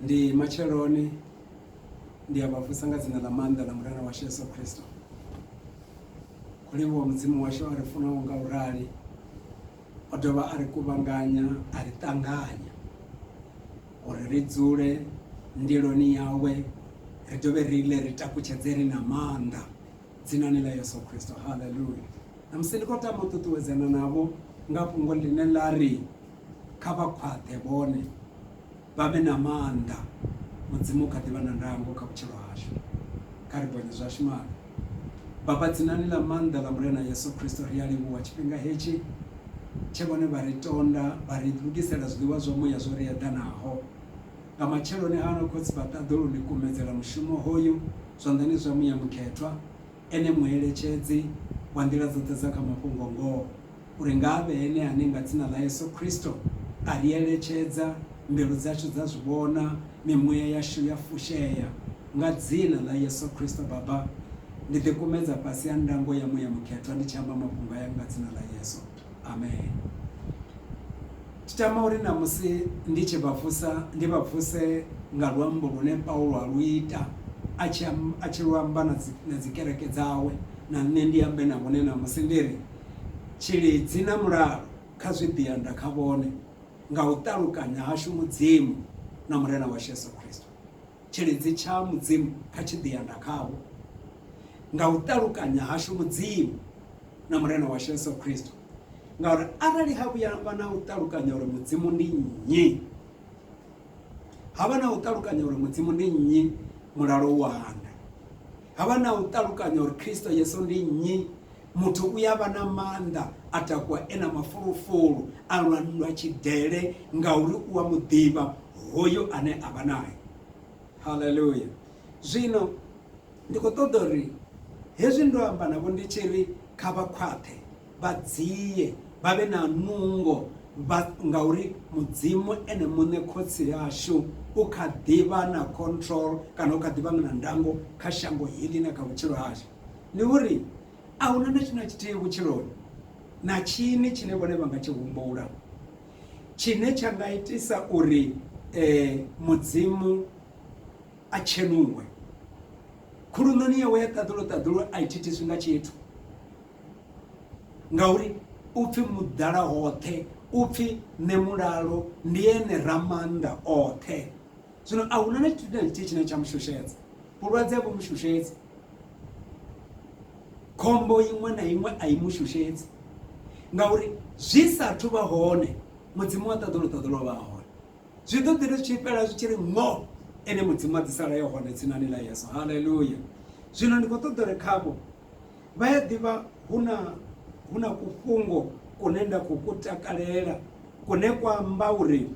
ndi matsheloni ndi a vha vusa nga dzina ḽa maanḓa ḽa murena washu yesu khristo khou livhuwa mudzimu washu a ri funaho nga u rali o dovha a ri kuvhanganya a ri ṱanganya uri ri dzule ndiloni yawe ri dovhe ri ḽe ri takutshedze ri na maanḓa Dzinani ḽa Yesu Kristo. Haleluya! Ṋamusi ndi khou tama u ṱuṱuwedzana navho nga fhungo ḽine ḽa ri, Kha vha khwaṱhe vhone, vha vhe na maanḓa. Mudzimu u kha ḓi vha na ndango kha vhutshilo hashu. Kha ri bonye zwashu maano. Baba, dzinani ḽa maanḓa ḽa Murena Yesu Kristo, ri a livhuwa tshifhinga hetshi tshe Vhone vha ri tonda, vha ri lugisela zwiḽiwa zwa muya zwo ri eḓanaho. Nga matsheloni ano, Khotsi vha ṱaḓa u lu ḽikumedzela mushumo hoyu zwanḓani zwa Muya Mukhethwa, Ene Mueletshedzi wa nḓila dzoṱhe dza kha mafhungo-ngoho, uri nga a vhe Ene ane nga Dzina ḽa Yesu Kristo a ri eletshedza, mbilu dzashu dza zwi vhona, mimuya yashu ya fushea. Nga Dzina ḽa Yesu Kristo, Baba, ndi ḓikumedza fhasi ha ndango ya Muya Mukhethwa ndi tshi amba mafhungo aya nga Dzina ḽa Yesu. amen ndi tama uri na musi ndi tshi vha vusa ndi vha vuse nga luambo lune paulo a lu ita a tshi a tshi lu amba na dzi na dzikereke dzawe na nṋe ndi ambe na vhone na musi ndi ri tshilidzi na mulalo kha zwi ḓiyanda kha vhone nga u ṱalukanya hashu mudzimu na murena washu yesu khristo Tshilidzi tsha Mudzimu kha tshi ḓi anda khavho, nga u ṱalukanya hashu Mudzimu na Murena washu Yesu Kristo. Ngauri arali ha vhuya vha na u ṱalukanya uri Mudzimu ndi nnyi, ha vha na u ṱalukanya uri Mudzimu ndi nnyi, mulalo u a anda. Ha vha na u ṱalukanya uri Kristo Yesu ndi nnyi. Muthu u a vha na maanḓa, a takuwa e na mafulufulu, a lwa nndwa tshidele ngauri u a mu ḓivha hoyo ane a vha nae. Haleluya! Zwino ndi khou ṱoḓa uri hezwi ndo amba navho ndi tshi ri kha vha khwaṱhe, vha dzie vha vhe na nungo vha ngauri mudzimu ene muṋe khotsi ashu u kha ḓivha na control kana u kha ḓivha na ndango kha shango heḽi na kha vhutshilo hashu ndi uri a huna na tshina tshithihi vhutshiloni na tshini tshine vhone vha nga tshi humbula tshine tsha nga itisa uri eh, mudzimu a tshenuwe khuluṋoni yawe ya ṱaḓulo ṱaḓulo a i thithiswi nga tshithu ngauri u pfhi muḓala hoṱhe u pfhi nṋe mulalo ndi ene ramannḓa oṱhe zwino a huna na tshithu na tshithihi tshine tsha mushushedza vhulwadze vhu mushushedzi khombo iṅwe na iṅwe a i mushushedzi ngauri zwi sathu vha hone mudzimu wa ṱaḓolo ṱaḓolo vha hone zwi ḓo ḓi ri tshi fhela zwi tshi ri ngo ene mudzimu a ḓisala yo hone tsinani ḽa yeso haleluya zwino ndi khou ṱoḓa uri khavho Vha ya ḓivha hu na hu na kufhungo kune nda khou ku takalela kune kwa amba uri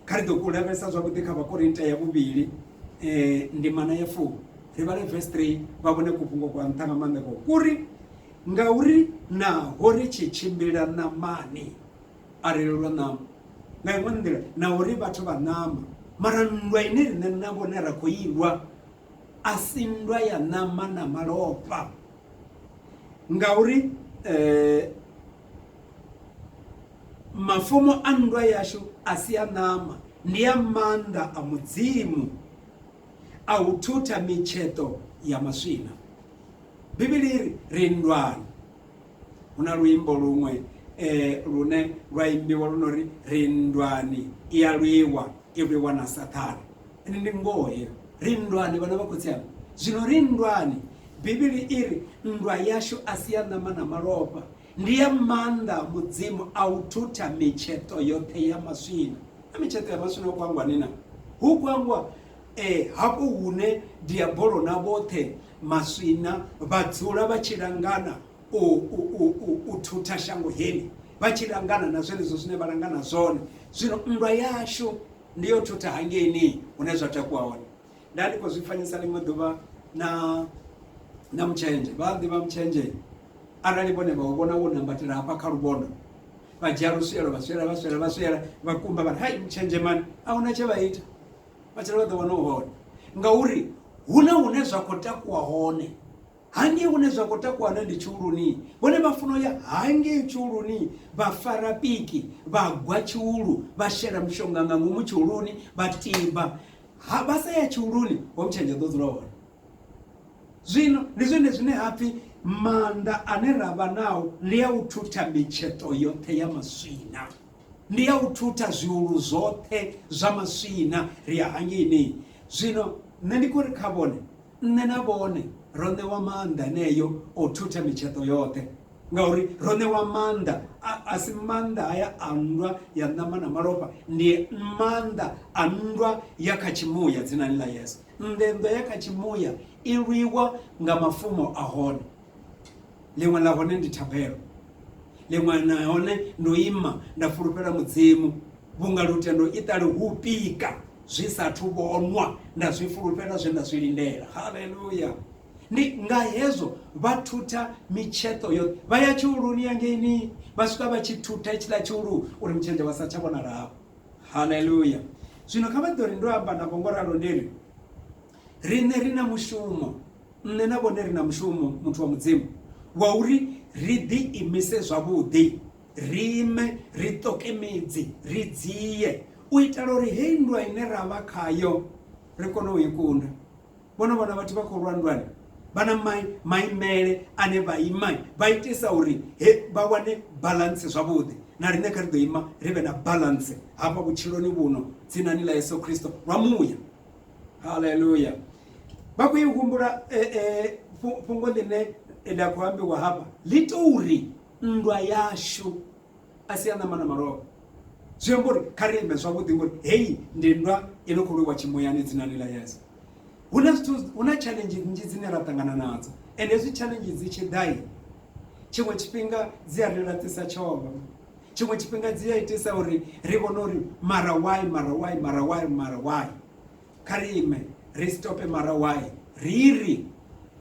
kha ri ḓo ku lavhelesa zwavhuḓi kha vhakorinta ya vhuvhili eh, ndimana ya fumi ri vhale verse 3 vha vhone kufhungo kwa nṱha nga maanḓa ko kuri ngauri naho ri tshi tshimbila ṋamani a ri lelwa ṋama nga iṅwe nḓila na uri vhathu vha ṋama mara nndwa ine riṋe na vhone ra khou ilwa a si nndwa ya ṋama na malofha ngauri eh, mafumo a nndwa yashu a si a ṋama ndi a maanḓa a mudzimu a u thutha mitsheṱo ya maswina bivhili ri ri nndwani hu na luimbo luṅwe um lune lwa imbiwa lu no ri ri nndwani i ya lwiwa i lwiwa na saṱhane ende ndi ngoho heyo ri nndwani vhana vha khotsi anga zwino ri nndwani bivhili i ri nndwa yashu a si ya ṋama na malofha ndi ya maanḓa a mudzimu a u thutha mitsheṱo yoṱhe ya maswina na mitsheṱo ya maswina ho kwangwani na hu kwangwa um hafho hune diabolo na vhoṱhe Maswina vha dzula vha tshi langana u, u, u, u, u thutha shango heli, vha tshi langana na zwenezwo zwine vha langana zwone. Zwino nndwa yashu ndi yo thutha hangeini hune zwa takuwa hone. Nda ndi khou zwi fanyisa ḽiṅwe ḓuvha na na mutshenzhe vha ḓivha mutshenzhe arali vhone vha u vhona wo nambatela hafha kha luvhondo vha dzhia luswielo vha swiela vha swiela vha swiela vha kumba vha hai mutshenzhemani a huna tshe vha ita matshelo vha ḓo wana u hone ngauri hu na hune zwa khou takuwa hone hangei hune zwa khou takuwa hone ndi tshiuluni vhone vha funa uya hangei tshiuluni vha fara piki vha gwa tshiulu vha shela mushonga nga ngomu tshiuluni vha tiba ha vha sa ya tshiuluni ho mutshenge ḓo dzula hone zwino ndi zwone zwine ha pfhi maanḓa ane ra vha nao ndi a u thutha mitsheto yoṱhe ya maswina ndi ya u thutha zwiulu zwoṱhe zwa maswina ri ya hangini zwino nṋe ndi khou ri kha vhone nṋe na vhone ro ṋewa maanḓa eneyo o thutha mitsheṱo yoṱhe ngauri ro ṋewa maanḓa a si maanḓa haya a nndwa ya ṋama na malofha ndi maanḓa a nndwa ya kha tshimuya dzinani ḽa yesu nnḓe nnḓwa ya kha tshimuya i lwiwa nga mafumo a hone ḽiṅwe ḽa hone ndi thabelo ḽiṅwe na hone ndo ima nda fulufhela mudzimu vhunga lutendo i ṱali hu pika zwi sathu vhonwa nda zwi fulufhela zwe nda zwi lindela haleluya ndi nga hezwo vha thutha mitsheṱo yoṱhe vha ya tshiuluni ya ngeini vha swika vha tshi thutha itshiḽa tshiulu uri mutshenzhe vha sa tsha vhonalao haleluya zwino kha vha ḓo ri ndo amba navho ngo ralo ndi ri Riṋe ri na mushumo, nṋe na vhone ri na mushumo, muthu wa Mudzimu, wa uri ri ḓiimise zwavhuḓi, ri ime, ri ṱoke midzi, ri dzie, u itela uri heyi nndwa ine ra vha khayo ri kone u i kunda. Vho no vhona vhathu vha khou lwa nndwani vha na maimele ane vha ima vha itisa uri he vha wane balance zwavhuḓi. Na riṋe kha ri ḓo ima ri vhe na balance hafha vhutshiloni vhuno, dzinani ḽa Yesu Kristo lwa muya. haleluya vha khou i humbula eh, eh, fhungo ḽine ḽa khou ambiwa hafha ḽi to uri nndwa yashu a si ya ṋama na malofha zwi amba uri kha ri ime zwavhuḓi ngori heyi ndi nndwa i no khou lwiwa tshimuyani dzinani ḽa yesu hu na zwithu hu na challenge nnzhi dzine ra ṱangana nadzo and hezwi challenge dzi tshi ḓai tshiṅwe tshifhinga dzi a ri laṱisa tshono Tshiṅwe tshifhinga dzi a itisa uri ri vhone uri mara why, mara why, mara why, mara why. Kha ri ime ri stope mara why ri ri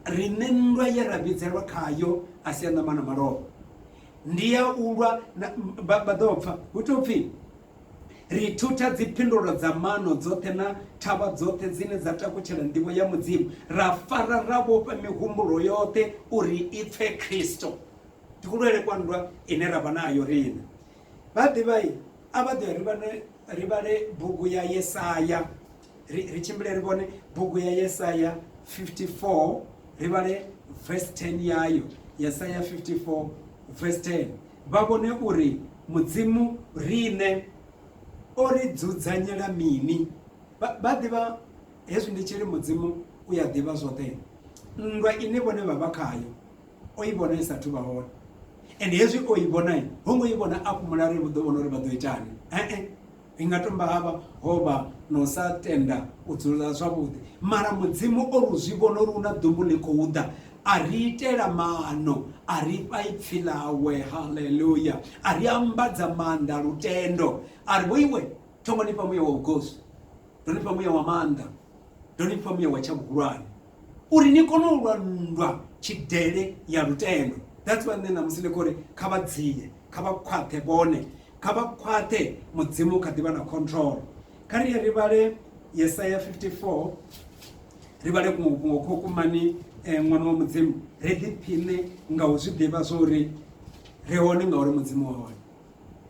riṋe nndwa ye ra vhidzelwa khayo a si ya ṋama na malofha ndi ya u lwa vha ḓo pfa hu tou pfhi ri thutha dziphindulo dza mano dzoṱhe na thavha dzoṱhe dzine dza takutshela ndivho ya mudzimu ra fara ra vhofha mihumbulo yoṱhe uri i pfe khristo ndi kulwele kwa nndwa ine ra vha nayo riṋe vha ḓivha a vha ḓo ri vhale bugu ya yesaya ri tshimbile ri vhone bugu ya yesaya 54 ri vhale verse 10 yayo yesaya 54 verse 10 vha vhone uri mudzimu riṋe o ri dzudzanyela mini vha ḓivha hezwi ndi tshili mudzimu u ya ḓivha zwoṱhe nndwa ine vhone vha vha khayo o i vhona i sa thuvha hone and hezwi o i vhona i ho ngo i vhona a fhumula ri vhuḓo vhona uri vha ḓo itani ee i nga tomba havha ho vha na u sa tenda u dzula zwavhuḓi mara mudzimu o ri zwi vhona uri u na ḓumbu ḽi khou ḓa a ri itela maano a ri fha ipfhi ḽawe haleluya a ri ambadza maanḓa lutendo a ri vho iwe thombo ni fha muya wa vhugosi ndo ni fha muya wa maanḓa ndo ni fha muya wa tsha vhuhulwane uri ni kone u lwa nndwa tshidele ya lutendo that's why nṋe ṋamusi ndi khori kha vha dzinye kha vha khwaṱhe vhone kha vha khwaṱhe mudzimu kha ḓivha na control kha ri ye ri vhale yesaya 54 ri vhale kuṅwe kuṅwe kho kumani um eh, ṅwana wa mudzimu ri ḓiphiṋe nga u zwi ḓivha zwo uri ri hone ngauri mudzimu wa hone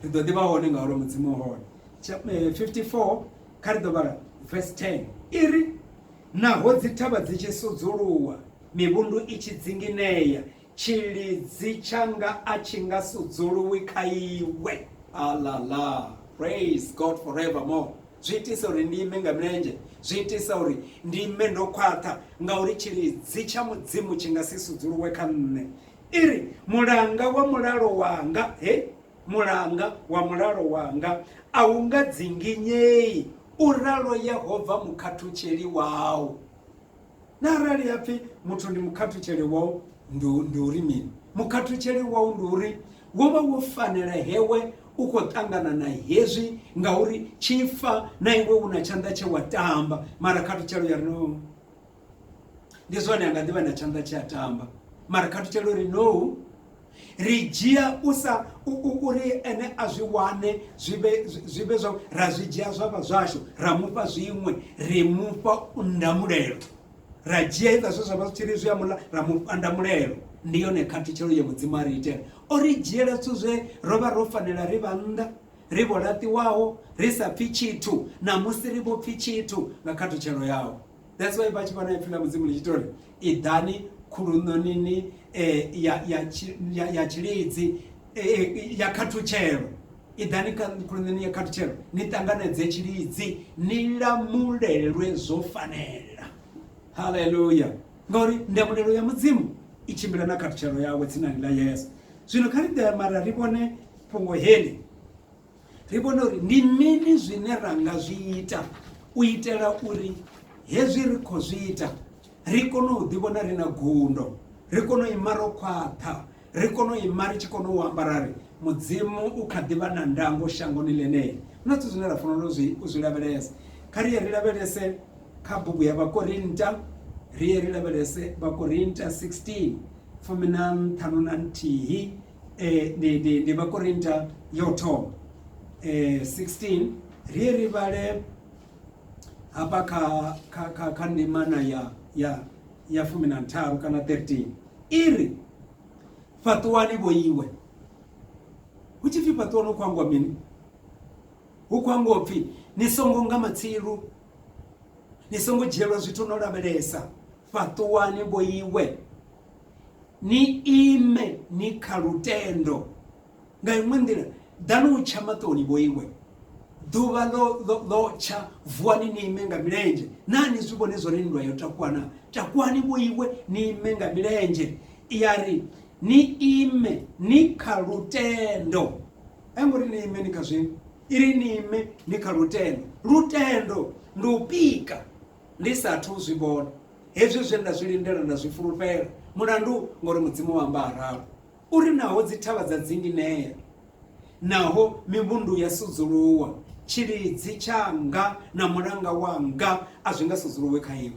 ri ḓo ḓivha hone ngauri mudzimu wa hone 54 eh, kha ri ḓo vhala verse 10 i ri Naho dzithavha dzi tshi sudzuluwa, mivhundu i tshi dzinginea, tshilidzi tshanga a tshi nga sudzuluwi kha iwe. Alala! Praise God forevermore! Zwi itisa uri ndi ime nga milenzhe, zwi itisa uri ndi ime ndo khwaṱha, ngauri tshilidzi tsha Mudzimu tshi nga si sudzuluwe kha nṋe. I ri, Mulanga wa mulalo wanga, he, Mulanga wa mulalo wanga a u nga dzinginyei, u ralo Yehova mukhathutsheli wau. Na arali ha pfi muthu ndi mukhathutsheli wau, ndi uri mini? Mukhathutsheli wau ndi uri wo vha wo fanela hewe u khou ṱangana na hezwi ngauri tshifa na iwe u na tshanḓa tshe wa tamba. Mara khathutshelo ya ri no. ndi zwone anga ḓivha na tshanḓa tshi a tamba mara kha thutshela uri no ri dzhia u sa uri ene a zwi wane zwi vhe zwa ra zwi dzhia zwa vha zwashu ra mufha zwiṅwe ri mufha ndamulelo ra dzhia iḽa zwe zwa vha zwi tshi ri zwi a mula ra mufha ndamulelo ndi yone khathutshelo ya mudzimu a ri itela o ri dzhiela zwithu zwe ro vha ro fanela ri vha nnḓa ri vho laṱiwaho ri sa pfhi tshithu namusi ri vho pfhi tshithu nga khathutshelo yawo That's why vha tshi vhona ipfi ḽa mudzimu ḽi tshi tori iḓani khuluṋonini eh, ya tshilidzi eh, eh, ya khathutshelo iḓani khuluṋoni ya khathutshelo ni ṱanganedze tshilidzi ni lamulelwe zwo fanela halleluya ngauri ndamulelo ya mudzimu i tshimbila na khathutshelo yawe tsinani ḽa yesu zwino kha ri ḓe mara ri vhone fhungo heli ri vhone uri ndi mini zwine ra nga zwi ita u itela uri hezwi ri khou zwi ita ri kone u ḓivhona ri na gundo ri kone u ima ro khwaṱha ri kone u ima ri tshi kone u amba ra ri mudzimu u kha ḓivha na ndango shangoni ḽeneḽi na zwithu zwine ra fanela u zwi lavhelesa kha ri ye ri lavhelese kha bugu ya vhakorinta ri ye ri lavhelese vhakorinta 16 fumi na nṱhanu na nthihi E, ndi, ndi, ndi vhakorinta ya u thoma e, 16 ri ri vhale hafha kha, kha, kha, kha ndimana ya, ya, ya fumi na ntharu kana 13 i ri fhaṱuwani vho iwe hu tshi pfi fhaṱuwani hu khou angwa mini hu khou angwa pfi ni songo nga matsilu ni songo dzhielwa zwithu no lavhelesa fhaṱuwani vho iwe ni ime ni kha lutendo nga iṅwe nḓila ḓani u tsha maṱoni vhoiwe ḓuvha ḽo tsha vuwani ni ime nga milenzhe naa ni zwi vhone zwone nndwa yo takuwa na takuwani vhoiwe ni ime nga milenzhe ya ri ni ime ni kha lutendo a ngo ri ni ime ni kha zwino i ri ni ime ni kha lutendo lutendo ndi u pika Ndi sa athu u zwi vhona, hezwi zwe nda zwi lindela nda zwi fulufhela. Mulandu, ngauri Mudzimu o amba a ralo, u ri, Naho dzithavha dza dzinginea, naho mivhundu ya sudzuluwa, tshilidzi tshanga na mulanga wanga a zwi nga sudzuluwi kha iwe.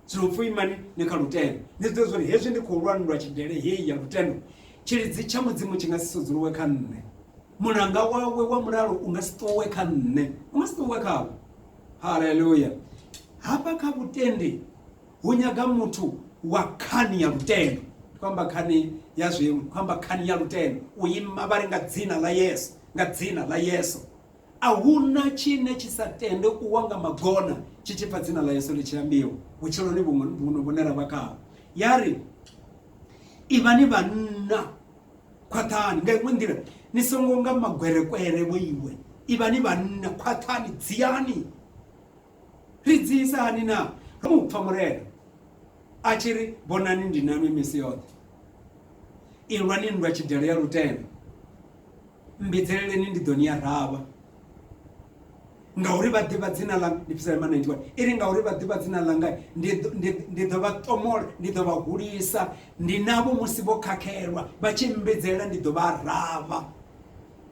Zwino pfi, Imani ni kha lutendo. Ni zwi ḓivhe zwa uri hezwi ndi khou lwa nndwa tshidele hei ya lutendo, tshilidzi tsha Mudzimu tshi nga si sudzuluwe kha nṋe, mulanga wawe wa mulalo u nga si ṱuwe kha nṋe, u nga si ṱuwe khawe. haleluya hafha kha vhutendi hu nyaga muthu wa khani ya lutendo kwamba khani ya zwimu kwamba khani ya lutendo u ima vha ri nga dzina ḽa yesu nga dzina ḽa yesu a huna tshine tshi sa tende u wa nga magona tshi tshi pfa dzina ḽa yesu ḽi tshi ambiwa vhutshiloni vhuno vhune ra vha khaho ya ri ivhani vhanna khwaṱhani nga iṅwe nḓila ni songo nga magwerekwere vho iwe ivha ni vhanna khwaṱhani dziyani ri dziyisa hani na ro mu pfa murena a tshi ri vhonani ndi nanwi misi yoṱhe ilwani nndwa tshidele ya lutendo Mmbidzeleleni ndi ḓo ni aravha. Ngauri vha ḓivha dzina ḽa, ndi Psalm 91, i ri, Ngauri vha ḓivha dzina ḽanga, ndi ḓo vha ṱomola, ndi ḓo vha hulisa, ndi navho musi vho khakhelwa, vha tshi mmbidzelela ndi ḓo vha aravha.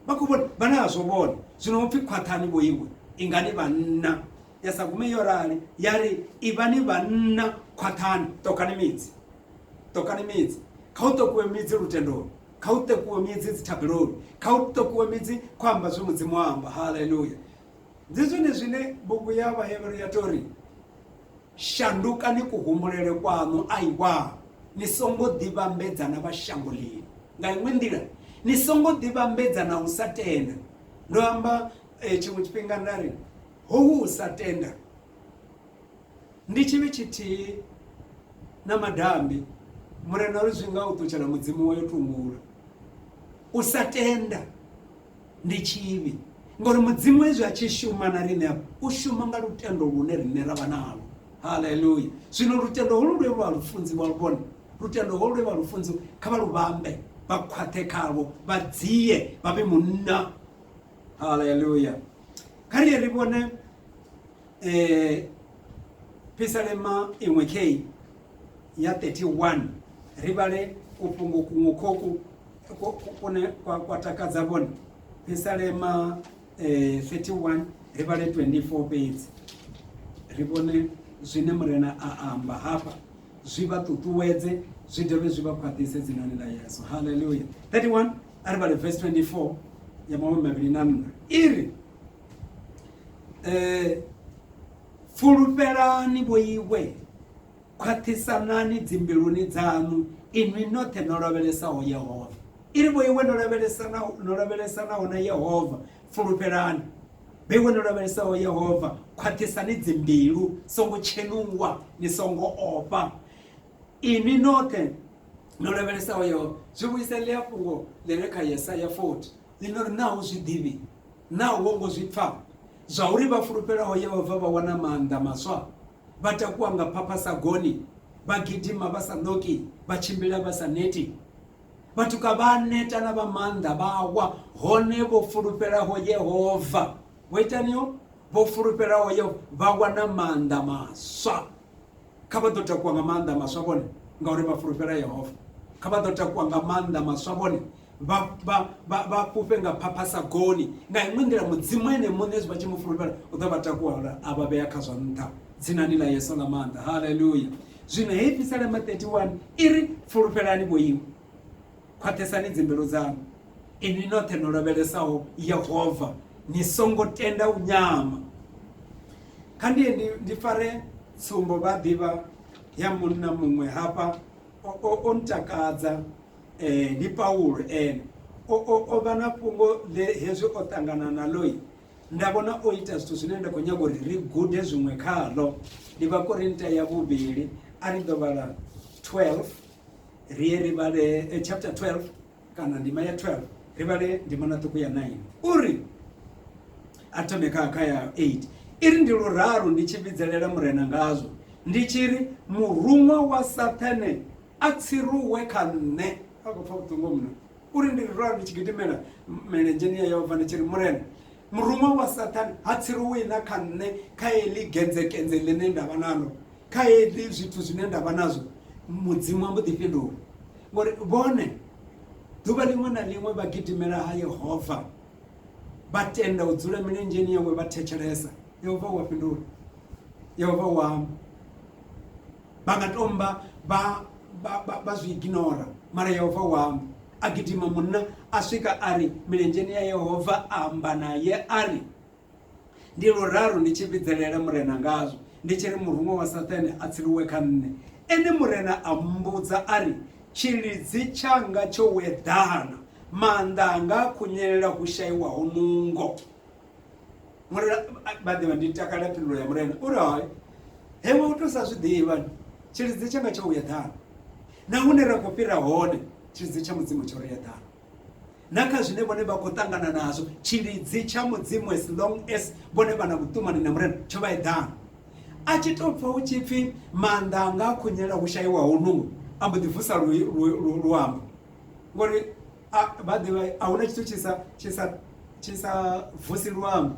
Vha khou vhona, vhana a zwo vhona, zwino hu pfi khwaṱhani vho iwe, ingani vhanna. Ya sa gume yo rali, ya ri, Ivhani vhanna, khwaṱhani, ṱokhani midzi. ṱokani midzi kha u ṱokuwe midzi lutendoni kha u ṱokuwe midzi dzithabeloni kha u ṱokuwe midzi khou amba zwe mudzimu wa amba haleluya ndi zwone zwine bugu ya vhahevheru ya tori shandukani kuhumbulele kwaṋu aiwa ni songo ḓivhambedza na vha shango lino nga iṅwe nḓila ni songo ḓivhambedza na u sa tenda ndo amba eh, tshiṅwe tshifhinga nda ri howu u sa tenda Ndi tshivhi tshithihi na madambi. Murena ri zwi nga u ṱutshela Mudzimu wa yo tungula. U sa tenda ndi tshivhi ngori Mudzimu hezwi a tshi shuma na riṋe hafha u shuma nga lutendo lune riṋe ra vha nalo. Haleluya! Zwino lutendo holu lwe lwa lufunzi wa lu vhona, lutendo holu lwe vha lufunzi kha vha lu vhambe, vha khwaṱhe khalwo, vha dzie, vha vhe munna. Haleluya! Kha ri ye ri vhone eh pisalema iṅwe kei ya 31 ri vhale kufhungo kuṅwe khoku kune kwa takadza vhone pisalema eh 31 ri vhale 24 fhedzi ri vhone zwine murena a amba hafha zwi vha ṱuṱuwedze zwi dovhe zwi vha khwaṱhise dzinani ḽa yesu halleluya 31 a ri vhale verse 24 ya mahumi mavhili na nṋa i ri eh fulufhelani vho iwe khwaṱhisanani dzimbiluni dzanu inwi noṱhe no lavhelesaho yehova i ri vho iwe no lavhelesanaho na yehova fulufhelani vho iwe no lavhelesaho yehova khwaṱhisani dzimbilu songo tshenuwa ni songo ofha inwi noṱhe no lavhelesaho yehova zwi vhuisa ḽi a fhungo ḽi re kha yesaya 40 Ni no ri, Naa u zwi ḓivhi? Naa u ho ngo zwi pfa? Zwauri vha fulufhelaho Yehova vha wana maanḓa maswa, vha takuwa nga phapha sa goni, vha gidima vha sa ṋoki, vha tshimbila vha sa neti. Vhatuka vha a neta na vha maanḓa vha a wa, hone vho fulufhelaho Yehova vho itaniho? Vho fulufhelaho Yehova vha wana maanḓa maswa. Kha vha ḓo takuwa nga maanḓa maswa vhone, ngauri vha fulufhela Yehova. Kha vha ḓo takuwa nga maanḓa maswa vhone. vha vha vha vha fhufhe nga phapha sa goni nga iṅwe nḓila mudzimu ene muṋe zwi vha tshi mu fulufhela u ḓo vha takuwala a vha vhea kha zwa nṱha dzinani ḽa yesu ḽa maanḓa haleluya zwino heyi pisalema 31 i ri fulufhelani vhoiwe khwaṱhesani dzimbilu dzanu inwi noṱhe no lavhelesaho yehova ni songo tenda u nyama kha ndiye ndi, ndi fare tsumbo vha ḓivha ya munna muṅwe hafha o, o, o ntakadza Ndi Paulo ene. O, o, o vha na fhungo ḽe hezwi o ṱangana naḽo. Nda vhona o ita zwithu zwine nda khou nyaga uri ri gude zwiṅwe khaḽo. Ndi Vhakorinta ya vhuvhili, a ri ḓo vhala 12, ri ye ri vhale chapter 12, kana ndima ya 12, ri vhale ndimana ṱhukhu ya 9. U ri, a thome kha, kha ya 8, i ri, Ndi luraru ndi tshi vhidzelela Murena ngazwo, ndi tshi ri, Muruṅwa wa Saṱhane A tsiruwe kha nṋe, a khou pfa vhuṱungu mno, uri ndi ri ralo ndi tshi gidimela milenzheni ya Yehova ndi tshi ri, Murena, muruṅwa wa Saṱhane ha tsiruwi na kha nṋe kha heḽi genzekenze ḽine nda vha naḽo, kha heḽi zwithu zwine nda vha nazwo. Mudzimu a mbo ḓi fhindula, ngori vhone ḓuvha ḽiṅwe na ḽiṅwe vha gidimela ha Yehova, vha tenda u dzula milenzheni yawe vha thetshelesa. Yehova u a fhindula, Yehova u amba. Vha nga tomba vha, vha, vha, vha zwi iginora, mara Yehova u amba. A gidima munna a swika a ri milenzheni ya Yehova, a amba naye a ri, Ndi luraru ndi tshi vhidzelela Murena ngazwo, ndi tshi ri muruṅwa wa Sathane a tsiliwe kha nṋe. Ene Murena a mmbudza a ri, Tshilidzi tshanga tsho weḓana, maanḓa anga a khunyelela hu shaiwaho nungo. Murena vha ḓivha ndi takala phindulo ya murena uri hai hewe u to sa zwi ḓivha tshilidzi tshanga tsho uya ḓana na hune ra khou fhira hone tshilidzi tsha mudzimu tsho ri ya ḓana na kha zwine vhone vha khou ṱangana nazwo tshilidzi tsha mudzimu as long as vhone vha na vhuṱumani na murena tsho vha eḓana a tshi tou pfa hu tshi pfhi maanḓa anga a khunyela hu shaiwaho nungo a mbo ḓi vusa luambo ngori vha ḓivha a huna tshithu tshi sa tshi sa tshi sa vusi luambo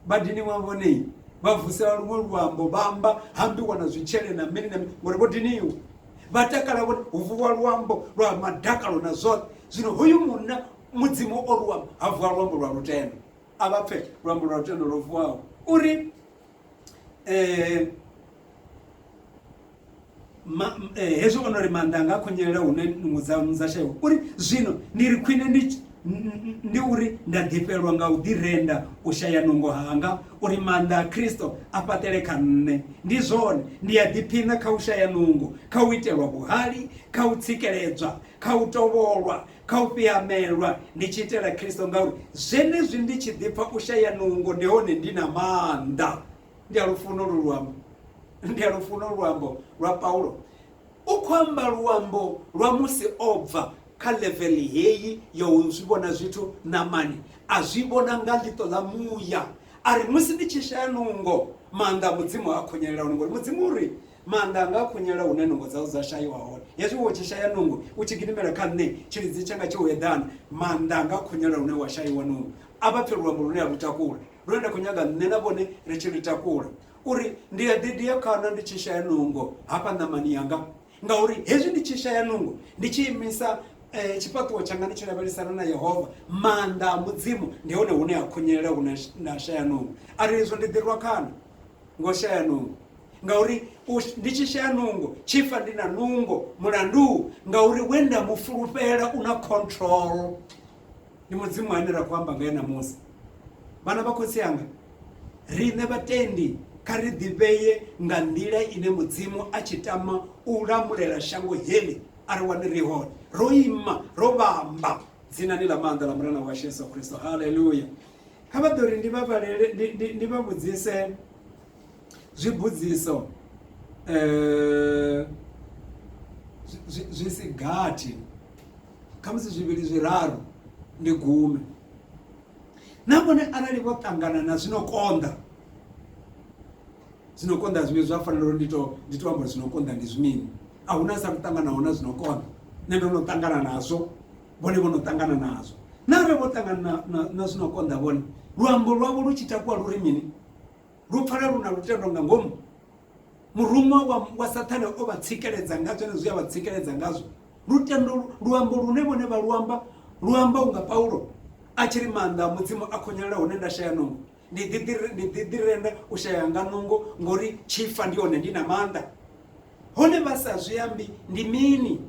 vhadini wa vhone vha vusela luṅwe luambo vha amba hambiwa na zwitshele na mini na mini ngori vho diniwa vha takala vhone hu vuwa luambo lwa madakalo na zwoṱhe zwino hoyu munna mudzimu o luambo ha vuwa luambo lwa lutendo a vha pfe luambo lwa lutendo lwo vuwaho uri eh, ma, eh, hezwi ono ri maanḓa anga a khonyelela hune nungo dza dza shaiwa uri zwino ndi ri khwine ndi ndi uri nda ḓifhelwa nga u ḓirenda u shaya nungo hanga uri maanḓa a kristo a fhaṱele kha nṋe ndi zwone ndi a ḓiphina kha u shaya nungo kha u itelwa vhuhali kha u tsikeledzwa kha u tovholwa kha u fhiamelwa ndi tshi itela Kristo ngauri zwenezwi ndi tshi ḓipfa u shaya nungo ndi hone ndi na maanḓa ndi a lufuno lu luambo ndi a lufuno luambo lwa Paulo u khou amba luambo lwa musi o bva kha level heyi ya u zwi vhona zwithu ṋamani a zwi vhona nga ḽiṱo ḽa muya a ri musi ndi tshi shaya nungo maanḓa a mudzimu a khonyelela hone ngori mudzimu uri Maanḓa anga a khunyela hune nungo dzau dza shaiwa hone. Hezwi wo tshi shaya nungo, u tshi gidimela kha nṋe, tshilidzi tshanga tshi u eḓana. Maanḓa anga a khunyela hune wa shaiwa nungo. A vha pfe luambo lune a lu takula, lune nda khou nyaga nṋe na vhone ri tshi lu takula. U ri, Ndi a ḓi dia khana ndi tshi shaya nungo hafha ṋamani yanga. Ngauri hezwi ndi tshi shaya nungo, ndi tshi imisa tshifhaṱuwo tshanga ndi tshi lavhelesana na Yehova, maanḓa a Mudzimu, ndi hone hune a khunyela hune nda shaya nungo. A ri, Hezwo ndi ḓi rwa khana ngo shaya nungo. ngauri ndi tshi shaya nungo tshifa ndi na nungo mulandu ngauri we nda mu fulufhela u na control ndi mudzimu ane ra khou amba nga ena musi vhana vha khotsi anga riṋe vhatendi kha ri ḓivheye nga nḓila ine mudzimu a tshi tama u lamulela shango heḽi a ri wane ri hone ro ima ro vhamba dzinani ḽa maanḓa ḽa murena washu yesu kristo haleluya kha vha ḓo ri ndi vha vhalele ndi vha vhudzise Zwibudziso zwi si gathi khamusi zwivhili zwiraru ndi gume na vhone arali vho ṱangana na zwino konḓa zwino konḓa zwine zwa fanela uri ndi to ndi to amba zwino konḓa ndi zwimini a huna sa kuṱanganaho na zwino konḓa nṋe ndo no ṱangana nazwo vhone vho no ṱangana nazwo na re vho ṱangana na zwino konḓa vhone luambo lwavho lu tshi takuwa lu ri mini lu pfala lu na lutendo nga ngomu muruṅwa wa, wa sathane o vha tsikeledza nga zwone zwi a vha tsikeledza ngazwo lutendo luambo lune vhone vha luamba luamba unga paulo a tshi ri maanḓa a mudzimu a khonyelela hune nda shaya nungo ndi ḓiḓirenda u shaya nga nungo ngori tshifa ndi hone ndi na maanḓa hone vha sa zwi ambi ndi mini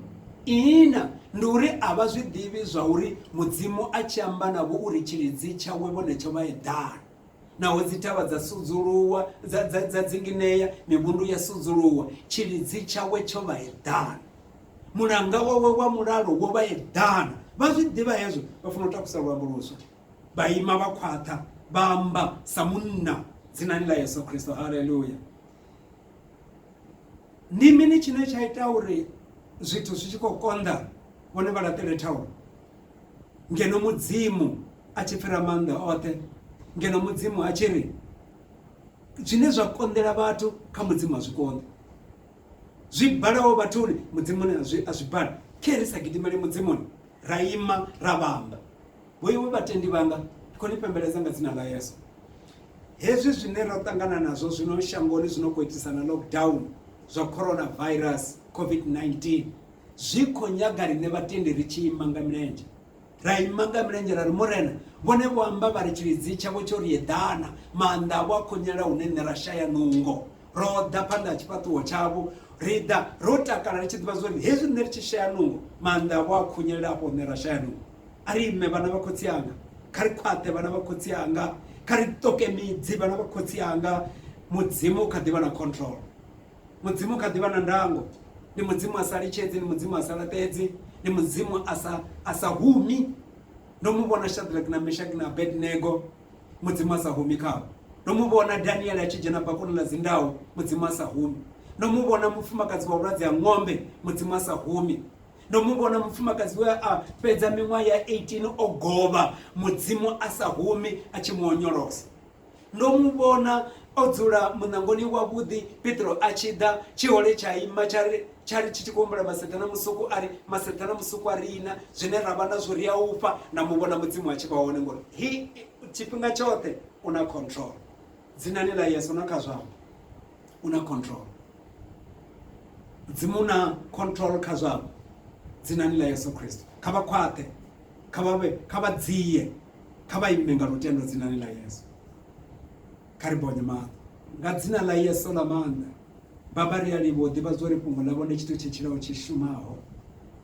ihina ndi uri a vha zwi ḓivhi zwa uri mudzimu a tshi amba navho uri tshilidzi tshawe vhone tsho vha eḓana Naho dzithavha dza sudzuluwa, dza, dza, dza dzinginea, mivhundu ya sudzuluwa, tshilidzi tshawe tsho vha eḓana, mulanga wawe wa mulalo wo vha eḓana. Vha zwi ḓivha hezwo, vha funa u takusa luambo luswa. Vha ima vha khwaṱha, vha amba sa munna dzinani ḽa Yesu Kristo. Haleluya! Ndi mini tshine tsha ita uri zwithu zwi tshi khou konḓa vhone vha laṱele thaulo? ngeno mudzimu a tshi pfira maanḓa oṱhe ngeno mudzimu a tshi ri zwine zwa konḓela vhathu kha mudzimu a zwi konḓi zwi balaho vhathuni mudzimuni a zwi bala khe ri sa gidimele mudzimuni ra ima ra vhamba vhoiwe vhatendi vhanga ndi khou ni pembeledza nga dzina ḽa yesu hezwi zwine ra ṱangana nazwo zwino shangoni zwino khou itisana lockdown zwa coronavirus covid-19 zwi khou nyaga riṋe vhatendi ri tshi ima nga milenzhe ra ima nga milenzhe ra ri murena vhone vho amba vha ri tshilidzi tshavho tsho ri eḓana maanḓa avho a khonyela hune nṋe ra shaya nungo ro ḓa phanḓa ha tshifhaṱuwo tshavho ri ḓa ro takala ri tshi ḓivha zwori hezwi nṋe ri tshi shaya nungo maanḓa avho a khonyelela afho nṋe ra shaya nungo a ri ime vhana vha khotsi anga kha ri khwaṱhe vhana vha khotsi anga kha ri ṱoke midzi vhana vha khotsi anga mudzimu u kha ḓi vha na control Mudzimu u kha ḓi vha na ndango. Ndi Mudzimu a sa litshedzi, ndi Mudzimu a sa laṱedzi, ndi Mudzimu a sa a sa humi. Ndo mu vhona Shadrack na Meshaki na Abednego, Mudzimu a sa humi khavho. Ndo mu vhona Daniel a tshi dzhena bakoni ḽa dzindau, Mudzimu a sa humi. Ndo mu vhona mufumakadzi wa vhulwadze ha ng'ombe, Mudzimu a sa humi. Ndo mu vhona mufumakadzi we a fhedza miṅwaha ya 18 o govha, Mudzimu a sa humi a tshi mu onyolosa. Ndo mu vhona o dzula muṋangoni wavhuḓi, Petro a tshi ḓa. Tshihole tsha ima tsha ri, tsha ri tshi tshi khou humbula maseḓana musuku, a ri, Maseḓana musuku a riṋa, zwine ra vha nazwo ri a u fha. Nda mu vhona Mudzimu a tshi vha hone, ngori He, tshifhinga tshoṱhe U na control. Dzinani ḽa Yesu na kha zwa vho, U na control. Mudzimu U na control kha zwa vho, dzinani ḽa Yesu Kristo. Kha vha khwaṱhe, kha vha vhe, kha vha dzie, kha vha ime nga lutendo dzinani ḽa yesu kha ri bonye maṱo nga dzina ḽa yesu ḽa maanḓa baba ri a livho ḓivha zwo ri fhungo ḽa vhone tshithu tshetshilaho tshi shumaho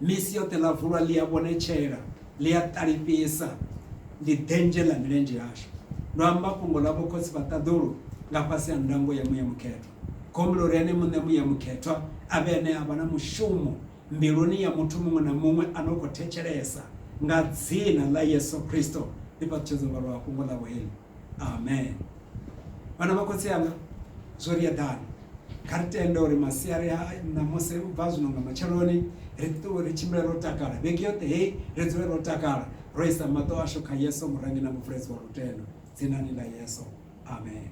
misi yoṱhe ḽa vulwa ḽi a vhonetshela ḽi a ṱalifhisa ndi denzhe ḽa milenzhe yashu ndo amba fhungo ḽa vhokhotsi vha ṱaḓulu nga fhasi ha ndango ya muya mukhethwa khombulo ri ene muṋe muya mukhethwa a vhe ene a vha na mushumo mbiluni ya muthu muṅwe na muṅwe a no khou thetshelesa, nga dzina ḽa Yesu Kristo, ndi fhaṱutshedza luvalo lwa fhungo ḽavho heḽi. Amen. Vhana vha khotsi anga, zwo ri eḓana. Kha ri tende uri masiari a ṋamusi u bva zwino nga matsheloni ri ṱuwe ri tshimbile ro takala, vhege yoṱhe heyi ri dzule ro takala, ro isa maṱo ashu kha Yesu, Murengi na Muvuledzi wa lutendo, dzinani ḽa Yesu. Amen.